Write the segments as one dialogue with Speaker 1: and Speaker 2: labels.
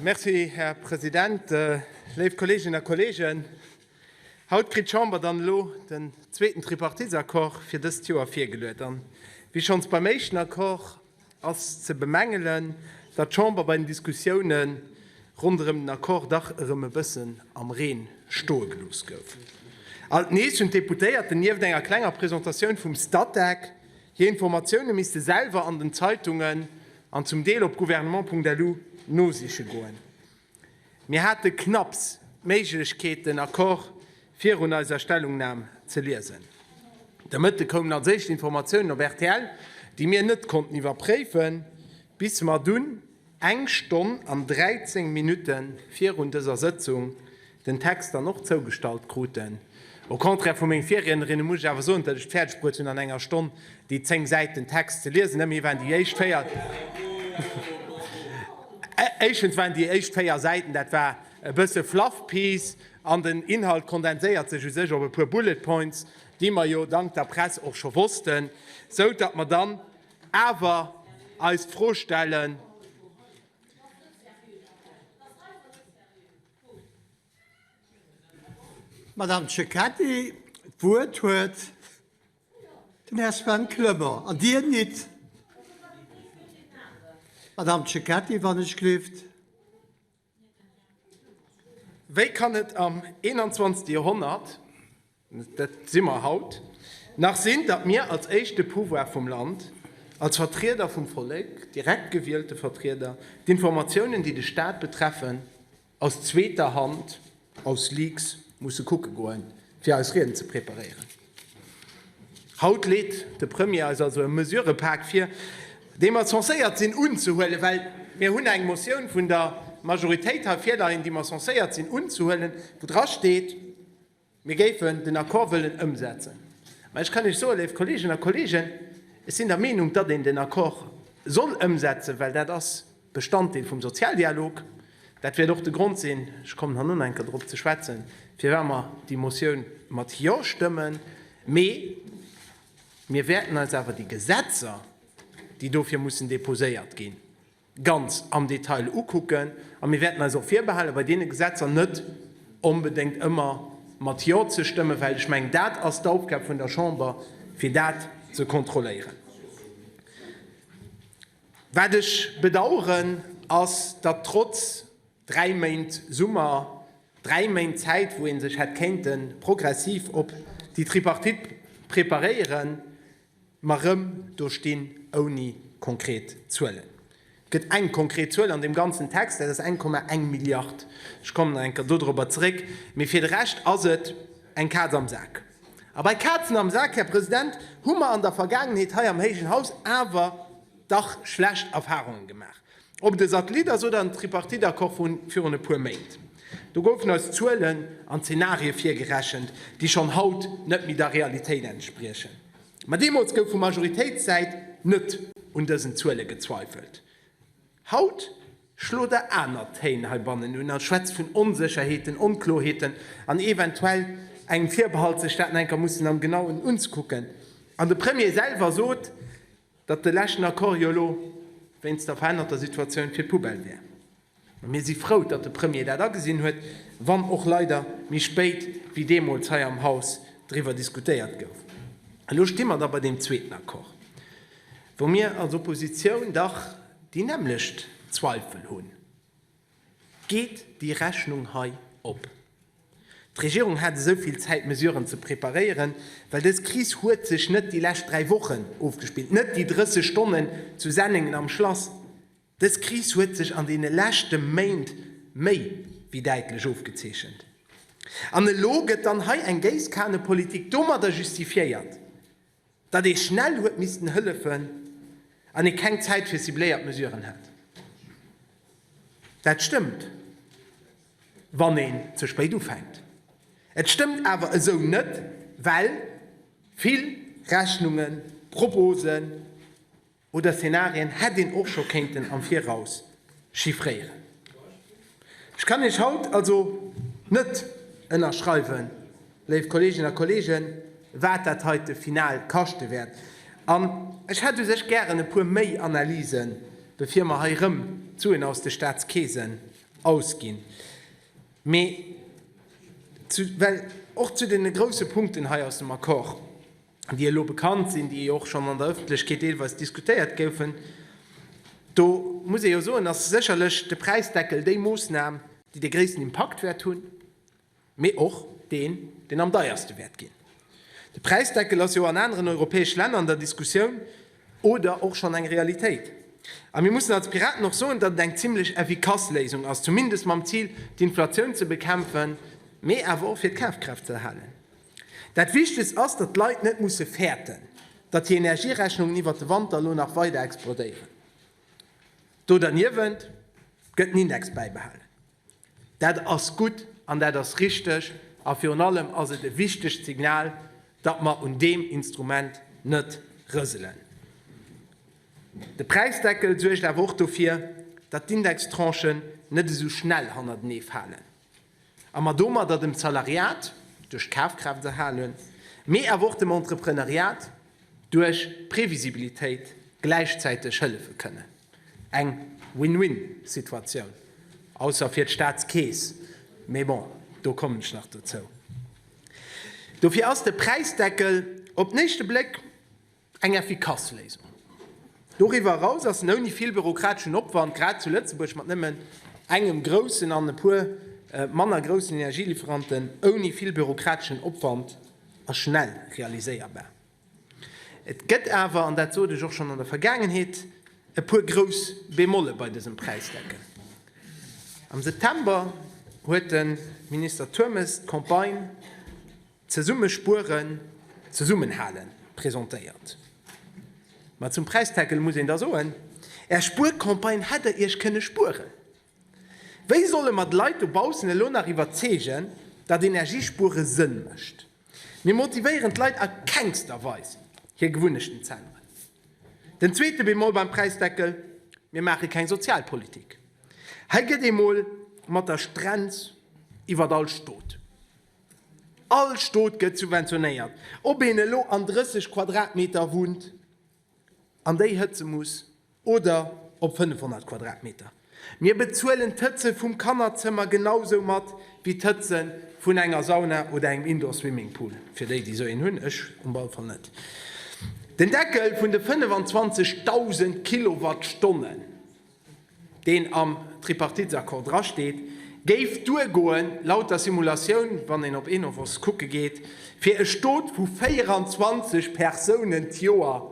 Speaker 1: Merci, Här President. Léif Kolleeginnen a Kolleegen, haut kritt d'Chamber dann elo den zweeten Tripartitsaccord fir dëst Joer virgeluet. An wéi schonns beim éischten Accord ass ze bemängelen, datt d'Chamber bei den Diskussiounen ronderëm den Accord dach erëm e bëssen am Reen stoe gelooss gouf. Alt nees hunn d'Deputéierten, nieft enger klenger Presentatioun vum Statec, hir Informatioune misste selwer an den Zeitungen An zum Deel op gouvernement.lu nosiche goen. Mir hate knapps d'Méiglechkeet den Accord virun eiser Stellungnam ze liesen. De Mëtte koumen als éischt Informatiounen op rtl, déi mir net konnten iwwerpréifen, bis mer dunn eng Stonn an 13 Minutte virun dëser Sëtzung den Text dann och zougestallt kruten. Au contraire vu menge Virriednerinne muss ech awer soen, datt ech d'fäerdeg bruet hunn an enger Stonn déi zéng Säiten Text ze liesen. Ëmmerhi waren déi éischt véier, éischens waren déi éischt véier Säiten, dat war e bësse fluff piece an den Inhalt kondenséiert sech u sech op e puer bullet points, déi mer jo dank der Press och scho wossten, sou datt mer dann awer eis d'Fro stellen, D'Madame Cecchetti d'Wuert huet den Här Sven Clement an Dir nit, Madame Cecchetti, wann ech gleeft. Wéi kann et am 21. Joerhonnert, Dat si mer haut nach, sinn, datt mir als éischte Pouvoir vum Land, als Vertrieder vum Vollek, direkt gewielte Vertrieder, d'Informatiounen, déi de Staat betreffen, aus zweeter Hand, aus Leaks, musse kucke goen, fir eis Rieden ze preparéieren. Haut leet de Premier eis also e Mesurëpak vir, dee mer censéiert sinn unzehuelen, well mir hunn eng Motioun vun der Majoritéit hei virleien, déi mer censéiert sinn unzehuelen, wou drasteet, Mir géifen den Accord wëllen ëmsetzen. Mä ech kann Iech soen, léif Kolleeginnen a Kolleegen, ech sinn der Meenung, datt een den Accord soll ëmsetzen, well dat ass Bestanddeel vum Sozialdialog. Dat wäert och de Grond sinn, ech kommen herno enker drop ze schwätzen, firwat mer déi Motioun mat Jo stëmmen. Mee mir wäerten eis awer déi Gesetzer, déi dofir mussen deposéiert ginn, ganz am Detail ukucken a mir wäerten eis och virbehalen, bei deene Gesetzer net onbedéngt ëmmer mat Jo ze stëmmen, well ech mengen, dat ass d'Aufgab vun der Chamber, fir dat ze kontrolléieren. Wat ech bedauern, ass, datt trotz dräi Méint Summer, dräi Méint Zäit, wou ee sech hätt kéinte progressiv op déi Tripartite preparéieren, Mä rëm do stinn ouni konkret Zuelen. Et gëtt eng konkret Zuel an deem ganzen Text, dat ass 1,1 Milliard. Ech kommen nach eng Kéier dodrobber zeréck. Mee fir de Rescht ass et eng Kaz am Sak. A bei Kazen am Sak, Här President, hu mer an der Vergaangenheet hei am héijen Haus awer dach schlecht Erfahrungen gemaach. Ob de Satellit ass oder en Tripartite-Accord vu virun e puer Méint, do goufen eis Zuelen an Zenarie virgerechent, déi schonn haut net méi der Realitéit entspriechen. Ma deemools gouf vu Majoritéitssäit net un dësen Zuele gezweifelt. Haut schlot Der aner Téin heibannen un a schwätzt vun Onsécherheeten, Onkloerheeten an eventuell engem Virbehalt, sech d'Daten enker mussen am Genauen unzekucken. An de Premier selwer sot, datt de leschten Accord jo elo wéinst der verännerter Situatioun fir d'Poubelle wär, mä mir si frou, datt de Premier dat agesinn huet, wann och leider méi spéit wéi deemools hei am Haus driwwer diskutéiert gouf. Elo sti mer da bei deem zweeten Accord, wou mir als Oppositioun dach déi nämmlecht Zweifel hunn, Geet déi Rechnung hei op? D'Regierung hat esou vill Zäit Mesuren ze preparéieren, well dës Kris huet sech net déi lescht dräi Wochen ofgespillt, net déi 30 Stonnen zu Sennengen am Schlass. Dës Kris huet sech an deene leschte Méint méi wéi däitlech ofgezeechent. An elo gëtt dann hei eng Géisskannepolitik domadder justifiéiert. datt ee schnell huet missten hëllefen an ee keng Zäit fir cibléiert Mesuren hat. Dat stëmmt, wann een ze spéit ufänkt. Et stëmmt awer esou net, well vill Rechnungen, Proposen, Oder Szenarien hätt een och scho kéinten am Viraus chiffréieren. Ech kann Iech haut also net ënnerschreiwen, léif Kolleeginnen a Kolleegen, wat dat heite final kaschte wäert. An ech hätt u sech gären e puer méi Analysen, bevir mer hei erëm d'Suen aus de Staatskeesen ausginn. Mee well och zu deene grousse Punkten hei aus dem Accord, déi elo bekannt sinn, déi och schonn an der Ëffentlechkeet deelweis diskutéiert goufen, do muss ee jo soen, ass sécherlech de Präisdeckel déi Moossnam, déi de gréissten Impakt wäert hunn, mee och deen, deen am deierste wäert ginn. De Präisdeckel ass jo an aneren europäesch Länner an der Diskussioun oder och schonn eng Realitéit. A mir mussen als Piraten och soen, datt et eng zimlech effikass Léisung ass, zumindest mam Zil, d'Inflatioun ze bekämpfen, mee awer och fir d'Kafkraaft ze erhalen. Dat Wichtegst ass, datt d'Leit net musse fäerten, datt hir Energierechnungen iwwert de Wanter elo nach weider explodéieren. Do derniewent gëtt den Index bäibehalen. Dat ass gutt an dat ass richteg a virun allem ass et e wichtegt Signal, datt mer un deem Instrument net rëselen. De Präisdeckel suergt awer och dofir, datt d'Indextranchen net esou schnell hannertenee falen. A mer domadder dem Zalariat duerch d'Kafkraaft erhalen, mee awer och dem Entreprenariat duerch d'Previsibilitéit gläichzäiteg hëllefe kënnen. Eng Win-Win-Situatioun, ausser fir d'Staatskeess, mee bon, do kommen ech nach dozou. Dofir ass de Präisdeckel op den éischte Bléck Eng effikass Léisung. Doriwwer eraus ass en ouni vill bürokrateschen Opwand, grad zu Lëtzebuerg, mat nëmmen engem groussen an e puer manner groussen Energielieferanten, ouni vill bürokrateschen Opwand a schnell realiséierbar. Et gëtt awer, an dat sot ech och schonn an der Vergaangenheet, e puer grouss Bemolle bei dësem Präisdeckel. Am September huet de Minister Turmes d'Campagne, Zesumme spueren, zesummen halen presentéiert. Ma zum Präisdeckel muss een da soen, Är Spuercampagne hätt Der Iech kënne spueren. Wéi solle mer d'Leit dobaussen elo nach iwwerzeegen, datt Energiespuere Sënn mécht? Mir motivéieren d'Leit a kengster Weis, hir Gewunnechten z'änneren. Den zweete Bemol beim Präisdeckel, Mir maache keng Sozialpolitik. Hei gëtt ee mol mat der Strenz iwwert all Stot. All Stot gëtt subventionéiert, ob een elo an 30 Quadratmeter wunnt an déi hëtze muss oder op 500 Quadratmeter. Mir bezuelen d'Hëtze vum Kannerzëmmer genau sou mat wéi d'Hëtze vun enger Sauna oder engem Indoor Swimming Pool, fir déi, déi sou een hunn, ech um all Fall net. Den Deckel vun de 25.000 Kilowattstonnen. deen am Tripartitesaccord drasteet, géif duergoen, laut der Simulatioun, wann een op Enovos kucke geet, fir e Stot vu 24 Persounen d'Joer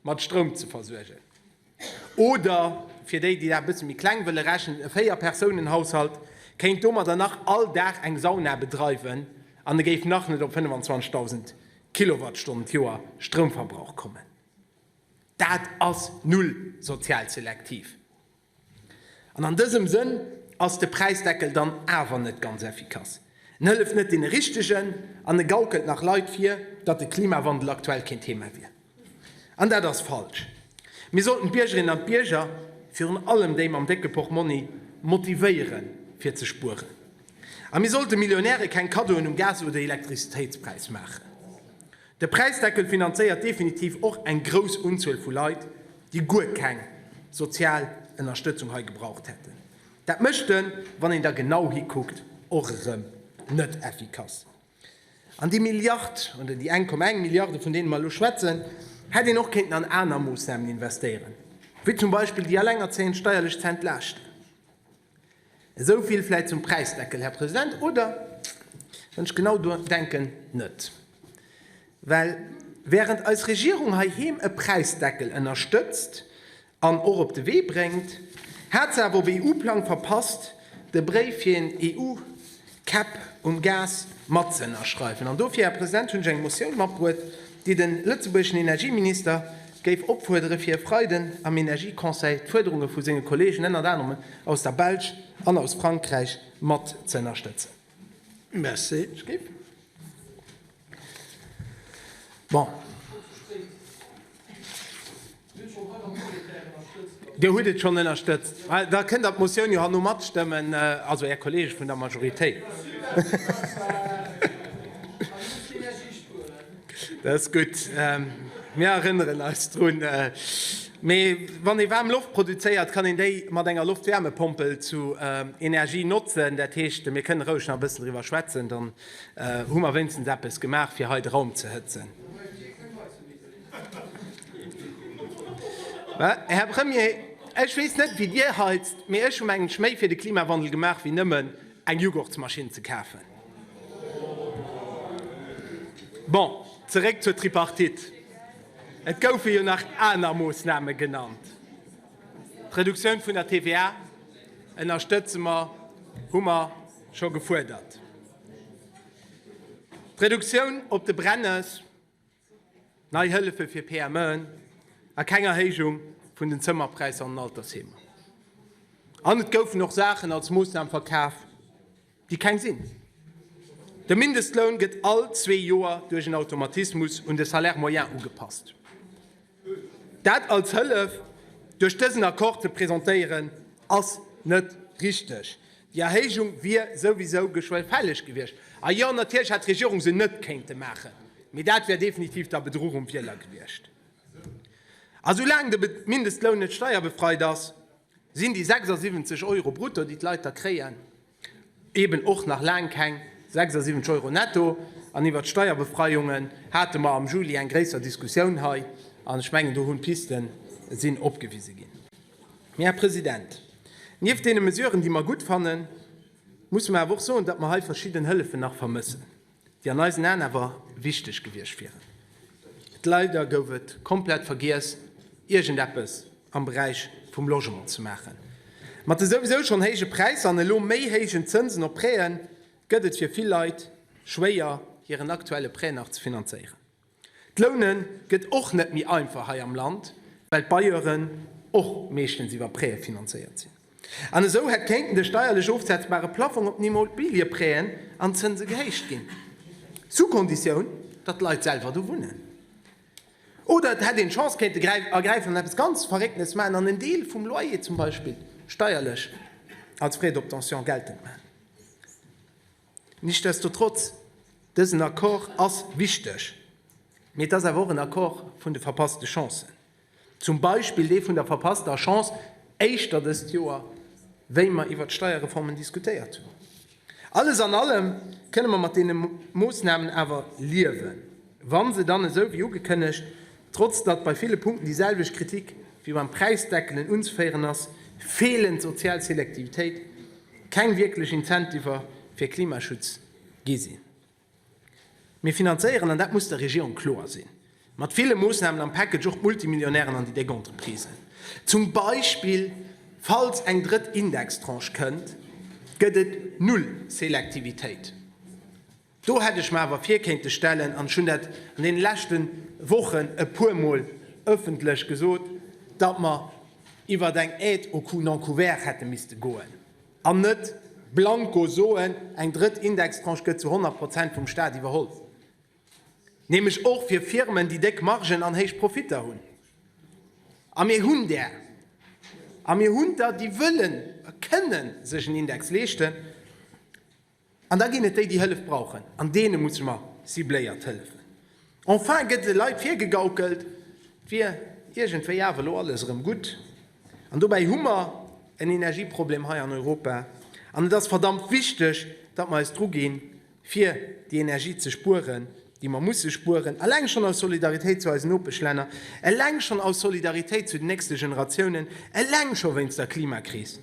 Speaker 1: mat Stroum ze versuergen. Oder fir déi, déi dat e bësse méi kleng wëlle rechnen, e Véier-Persounenhaushalt kéint domadder nach all Dag eng Sauna bedreiwen an e géif nach net op 25.000 Kilowattstonnen d'Joer Stroumverbrauch kommen. Dat ass null sozial selektiv. An an dësem Sënn ass de Präisdeckel dann awer net ganz effikass. En hëlleft net deene Richtegen an e gaukelt nach Leit vir, datt de Klimawandel aktuell keen Thema wier. An dat ass falsch. Mir sollten d'Biergerinnen an d'Bierger, virun allem déi mam décke Portmonni, motivéiere fir ze spueren. A mir sollte Millionäre keng Kaddoen um Gas oder Elektrizitéitspräis maachen. De Präisdeckel finanzéiert definitiv och eng grouss Unzuel vu Leit, déi guer keng sozial Ënnerstëtzung hei gebraucht hätten. Dat mécht en, wann een da genau hikuckt, och erëm net effikass. An déi Milliard, oder déi 1,1 Milliarde vun deene mer elo schwätzen, hätt een och kéinten an aner Moossnamen investéieren, wéi zum Beispill déi Alengerzéiend steierlech ze entlaaschten. Esou vill vläit zum Präisdeckel, Här President, oder? Wann ech genau denken, net. Well während eis Regierung heiheem e Präisdeckel ënnerstëtzt an och op de Wee bréngt, hat se awer op EU-Plang verpasst, de Bréif fir een EU. Käpp um Gas matzëënnerschreiwen. An dofir, Här President, hunn ech eng Motioun matbruet, déi de lëtzebuergeschen Energieminister géif opfuerdere fir e Freiden am Energieconseil d'Fuerderunge vu senge Kollegen, ënnert anerem aus der Belsch an aus Frankräich, matzëënnerstëtzen. Merci. Bon. Dir hutt et schonn ënnerstëtzt. Da kënnt Der d'Motioun jo herno matstëmmen, also Är Kolleege vun der Majoritéit. Dat ass gutt. Mir erënneren eis drun. Mee wann ee waarm Loft produzéiert, kann een déi mat enger Loftwäermepompel zu Energie notzen. Dat heescht, mir kënnen roueg nach e bëssen driwwer schwätzen. Hu mer wéinstens eppes gemaach, fir hei de Raum ze hëtzen? Här Premier, ech weess net, wéi Dir heizt, mee ech hu mengen ech méi fir de Klimawandel gemaach, wéi nëmmen eng Jughurtsmaschinn ze kafen. Bon, zeréck zur Tripartite. Et goufe jo nach aner Moosname genannt. D'Reduktioun vun der TVA ënnerstëtze mer, hu mer. scho gefuerdert. D'Reduktioun op de Brennes, nei Hëllefe fir PMEen a keng Erhéijung vun den Zëmmerpräisser an den Altersheemer. An et goufen och Saachen als Moossnam verkaf, déi keng sinn. De Mindestloun gëtt all zwee Joer duerch en Automatismus un de Salaire moyen ugepasst. Dat als Hëllef duerch dësen Accord ze presentéieren, ass net richteg. Déi Erhéijung wier souwisou geschwë fälleg gewiescht. A jo, natierlech hätt d'Regierung se net kéinte maachen, mee dat wär definitiv da Bedruch um Wieler gewiescht. A soulaang de Mindestloun net steierbefreit ass, sinn déi 76 Euro brutto, déi d'Leit da kréien, Eben och nach laang keng 76 Euro netto. An iwwert d'Steierbefreiungen hate mer am Juli eng gréisser Diskussioun hei, an ech mengen, do hunn d'Pisten sinn opgewise ginn. Mee, Här President, nieft deene Mesuren, déi mer gutt fannen, musse mer awer och soen, datt mer hei verschidden Hëllefen nach vermëssen. déi an eisen Aen awer wichteg gewiescht wieren, leider gouf et komplett vergiess iergend eppes am Beräich vum Logement ze maachen. Mat de souwisou schonn héije Präisser an elo méi héijen Zënsen op Prêt'en gëtt et fir vill Leit schwéier hiren aktuelle Prêt nach ze finanzéieren. D'Loune gëtt och net méi einfach hei am Land, well d'Bailleuren och meeschtens iwwer Prêë finanzéiert sinn. An esou hätt kéinten de steierlech ofsetzbare Plaffong op den Immobiliëprêën an d'Zënse gehéicht ginn, sous condition, datt d'Leit selwer do wunnen. Oder et hätt een d'Chance kéinte ergräifen an eppes ganz Verréckenes maachen an en Deel vum Loyer zum Beispill steierlech als Frais d'obtention geltend maachen. Nichtsdestotrotz, dësen Accord ass wichteg, mee et ass awer och en Accord vun de verpasste Chancen, zum Beispill dee vun der verpasster Chance éischter dëst Joer, wéi mer iwwert d'Steierreformen diskutéiert hunn. Alles an allem kënne mer mat deene Moosnamen awer liewen, wa se dann, esou wéi ugekënnegt, trotz datt bei ville Punkten déi selwecht Kritik wéi beim Präisdeckelen unzeféieren ass, feelend sozial Selektivitéit, keng wierklech Incentiver fir Klimaschutz gi sinn. Mir finanzéieren, an dat muss der Regierung kloer sinn, mat ville Moossnamen am Package och d'Multimillionären an déi déck Entreprisen. Zum Beispill, falls eng drëtt Indextranche kënnt, gëtt et null Selektivitéit. Do hätt ech mer awer vir kéinte stellen, an ech hunn dat an deene leschte Wochen e puermol ëffentlech gesot, datt mer iwwer eng Aide au coût non couvert hätte misste goen an net blanco soen, eng drëtt Indextranche gëtt zu 100 Prozent vum Stat iwwerholl, nämlech och fir Firmen, déi déck Margen an héich Profitter hunn. A mir hunn där. A mir hunn der, déi wëllen a kënnen sech en Index leeschten. An da ginn et déi, déi Hëllef brauchen, an deene musse mer cibléiert hëllefen. Enfin gëtt de Leit virgegaukelt, et wier iergendwéi awer elo alles erëm gutt. An dobäi hu mer en Energieproblem hei an Europa, an et ass verdammt wichteg, datt mer eis dru ginn, fir déi Energie ze spueren, déi mer musse spueren, eleng schonn aus Solidaritéit zu eisen Nopeschlänner, eleng schonn aus Solidaritéit zu den nächste Generatiounen, eleng scho wéinst der Klimakris.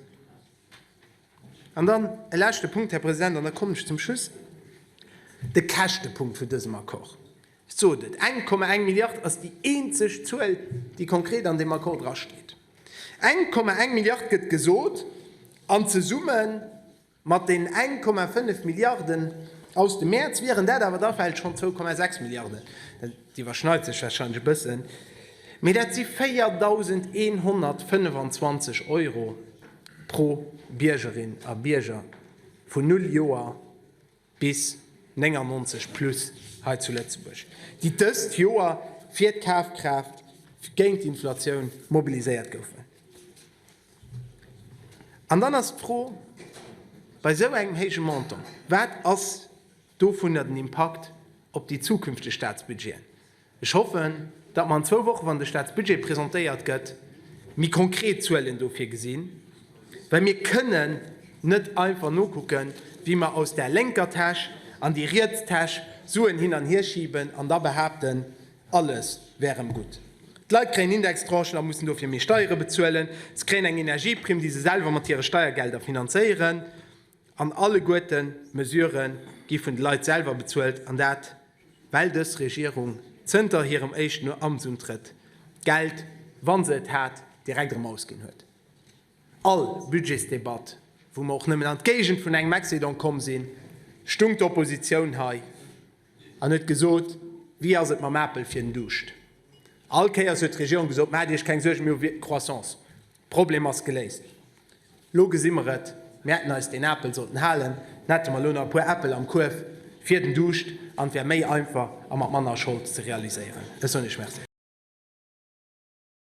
Speaker 1: An dann e leschte Punkt, Här President, an da kommen ech zum Schluss, de Käschtepunkt vun dësem Accord. Ech sot et, 1,1 Milliard ass déi eenzeg Zuel, déi konkret an deem Accord drasteet. 1,1 Milliard gëtt gesot, an zesumme mat deenen 1,5 Milliarden aus dem Mäerz wieren dat awer da vläicht schonn 2,6 Milliarden. Déi iwwerschneit sech warscheinlech e bëssen, mee dat si 4.125 Euro pro Biergerin a Bierger vun null Joer bis 99 plus hei zu Lëtzebuerg, déi dëst Joer fir d'Kafkraaft géint d'Inflatioun mobiliséiert goufen. An dann ass d'Fro, bei esou engem héije Montant, wat ass. Dovunner den Impakt op déi zukünfteg Statsbudgeten. Ech hoffen, datt mer an zwou Woche, wann de Statsbudget presentéiert gëtt, méi konkret Zuelen dofir gesinn, well mir kënnen net einfach nokucken, wéi mer aus där lénker Täsch an déi riets Täsch Suen hin an hier schiben an da behaapten, alles wär erëm gutt. D'Leit kréien Indextranchen a mussen dofir méi Steiere bezuelen. Se kréien eng Energieprimm, déi se selwer mat hire Steiergelder finanzéieren. An alleguerten d'Mesuren gi vun de Leit selwer bezuelt, an dat well dës Regierung zënter hirem éischten Amtsuntrëtt d'Geld, wa se et hat, direkt erëm ausginn huet. All Budgetsdebatt, wou mer och nëmmen an d'Géigend vun engem Excedent komm sinn, stung d'Oppositioun hei an huet gesot, Wéi ass et mam Apel fir den Duuscht? All Kéiers huet d'Regierung gesot, Maacht Iech keng Suergen, mir hu Croissance. Problem ass geléist. Lo gesi mer et, mir hätten eis deen Apel sollten halen, dann hätte mer lo nach e puer Äppel am Kuerf fir den Duuscht an et wär méi einfach a mat manner Schold ze realiséieren. Dës hunn ech. Merci.